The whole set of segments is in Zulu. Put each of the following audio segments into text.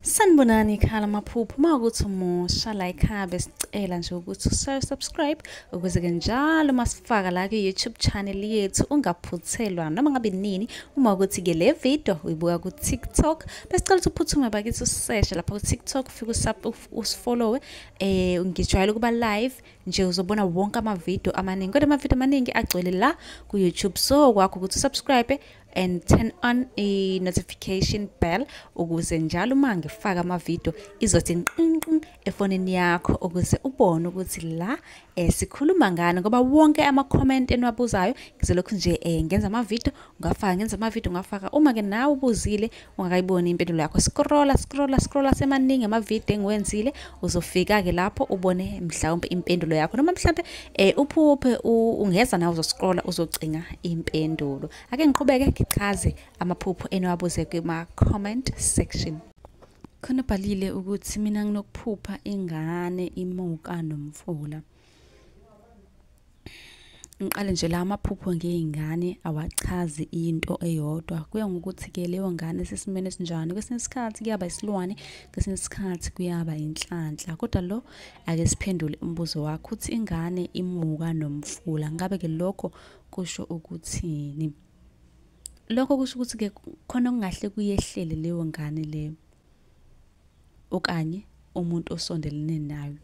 sanibonani ikhala amaphupho uma ukuthi umusha la ikhaya besicela nje ukuthi ushaye subscribe ukuze-ke njalo uma sifaka la kwi-youtube channel yethu ungaphuthelwa noma ngabe nini uma ukuthi-ke le video uyibuka ku-tiktok besicela ukuthi uphuthume bakithi useshe lapha ku-tiktok ufike usifollowe eh ngijwayele ukuba live nje uzobona wonke amavidiyo amaningi kodwa amavidiyo amaningi agcwele la ku-youtube so kwakho ukuthi usubscribe and turn on a notification bell ukuze njalo uma ngifaka amavidiyo izothi nqinqin efonini yakho ukuze ubone ukuthi la eh, sikhuluma ngani ngoba wonke ama-comment eniwabuzayo ngizolokhu nje eh, ngenza amavidiyo ngafaka ngenza amavidiyo ngafaka uma-ke nawe ubuzile ungakayiboni impendulo yakho scrolla scrolla scrolla semaningi amavidiyo engiwenzile uzofika-ke lapho ubone mhlawumpe impendulo yakho noma mhlawumpe um uphuphe ungeza nawe uzoscrolla uzocinga impendulo ake ngiqhubeke ngichaze amaphupho eniwabuze kuma-comment section khona bhalile ukuthi mina nginokuphupha ingane imuka nomfula ngiqale nje la amaphupho ngey'ngane awachazi into eyodwa kuya ngokuthi-ke leyo ngane sesimeni esinjani kwesinye isikhathi kuyaba isilwane kwesinye isikhathi kuyaba inhlanhla kodwa lo ake siphendule umbuzo wakho ukuthi ingane imuka nomfula ngabe-ke lokho kusho ukuthini lokho kusho ukuthi-ke khona okungahle kuyehlele leyo ngane leyo okanye umuntu osondelene nayo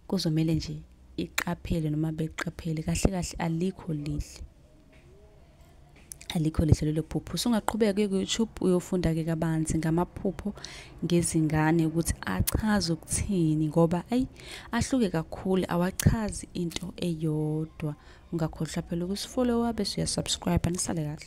kuzomele nje iqaphele noma beqaphele kahle kahle alikho lihle alikho lihle lelo phupho usungaqhubeka kuye ku-youtube uyofunda-ke kabanzi ngamaphupho ngezingane ukuthi achaze ukuthini ngoba ayi ahluke kakhulu awachazi into eyodwa ungakhohlwa phela ukusifollowa bese uyasubscribe nisale kahle